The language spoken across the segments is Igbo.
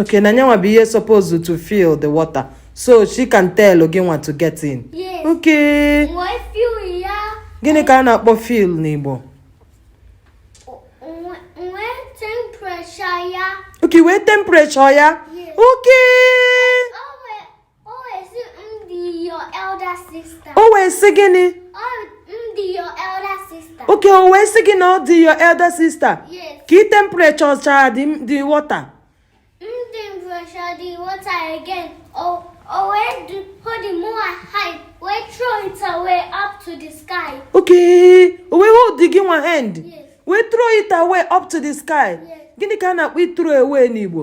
okay na nya nwa bụ ihe supposed to feel the water so she can tell gị nwa to get in yes. okay gịnị ka a na-akpọ feel n'Igbo okay wee temperature ya okay o wee sị gịnị okay o wee sị gị na ọ dị your elder sister ka i temperature chaa the water okay o wee hold gị nwa hand wee throw it away up to the sky gịnị ka a na-akpọ i throw away n'Igbo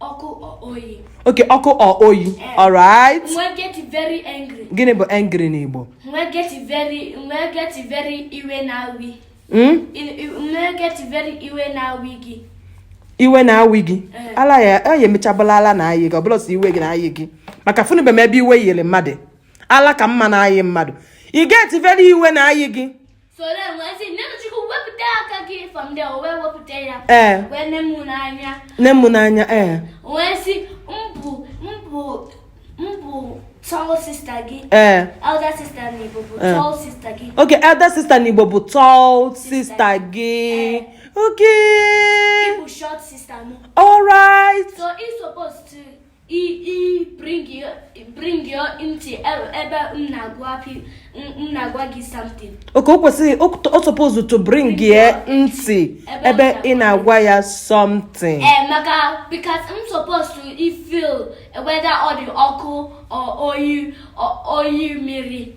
ọkụ or oyi okay ọkụ or oyi eh. alright m wee get very angry gịnị bụ angry n'Igbo m wee get very m wee get very iwe na-awi hmm? m wee get very iwe na-awi gị iwe na-awi gị eh. ala ya ya emechaa bụlụ ala na-ayị gị ọbụla si iwe gị na-ayị gị maka afụnube m ebe iwe yiri mmadụ ala ka m ma na-ayị mmadụ i get very iwe na-ayị gị ee nee m n'anya ee ee okay elder sister n'Igbo bụ tall sister gị okay alright i i bring your bring your ntị e- ebe m na-agwa pi- m m na-agwa gị something okay o kwesịrị o o suppose to bring ya ntị ebe ị na-agwa ya something ee maka because m supposed to i feel whether ọ dị ọkụ or oyi or oyi mmiri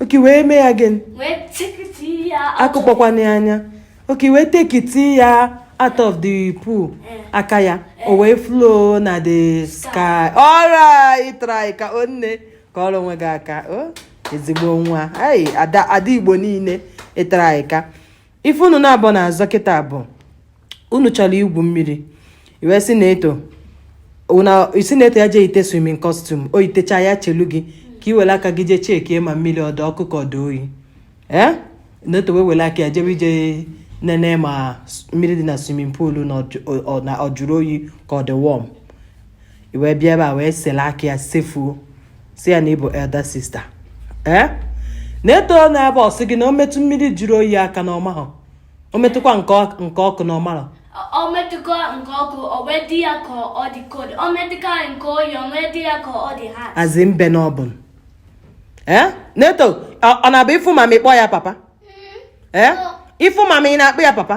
okay wee mee ya gịnị akụkpọkwana ya anya okay wee take it ya out of the pool eh. aka ya eh. o wee flow na the sky alright ị tryka o nne kụọrọ onwe gị aka o ezigbo nwa ada Igbo niile ị tryka ife unu naabọ na-azọ kịta a bụ unu chọrọ igwu mmiri i wee sị Neto sị Neto ya jee yite swimming costume o yitecha ya chelu gị ka i were aka gị jee chekie ma mmiri ọ dụ ọkụ ka ọ dụ oyi ee Neto wee were aka ya jebe ije nene ma mmiri dị na swimming pool na ọ jụrụ oyi ka ọ dị warm i wee bịa ebe a wee sele aka ya sefuo sị ya na ị bụ elder sister ee eh? Neto na ebe ọ sị gị na o metụ mmiri jụrụ oyi aka na ọ mahọ o metụkwa nke ọkụ na ọ marọ o metụkwa nke ọkụ o wee dị ya ka ọ dị cold o metụkwa nke oyi o wee dị ya ka ọ dị hot azi mbe na ọbụn ee eh? Neto ọ na-abụ ị fụ mama ị kpọọ ya papa ee eh? ị fụ mama ị na-akpọ ya papa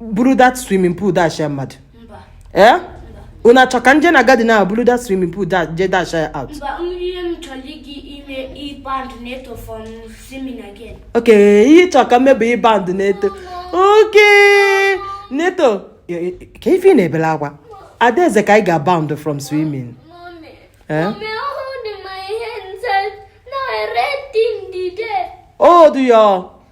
buru that swimming pool dash mmadụ ee eh? unu achọ ka m je na garden ahụ buru that swimming pool je dash out okay ihe ị chọ ka m mee bụ ịban Neto okay Neto ka ife ị na-ebele akwa Adaeze ka anyị ga-aban from swimming eh? oh do your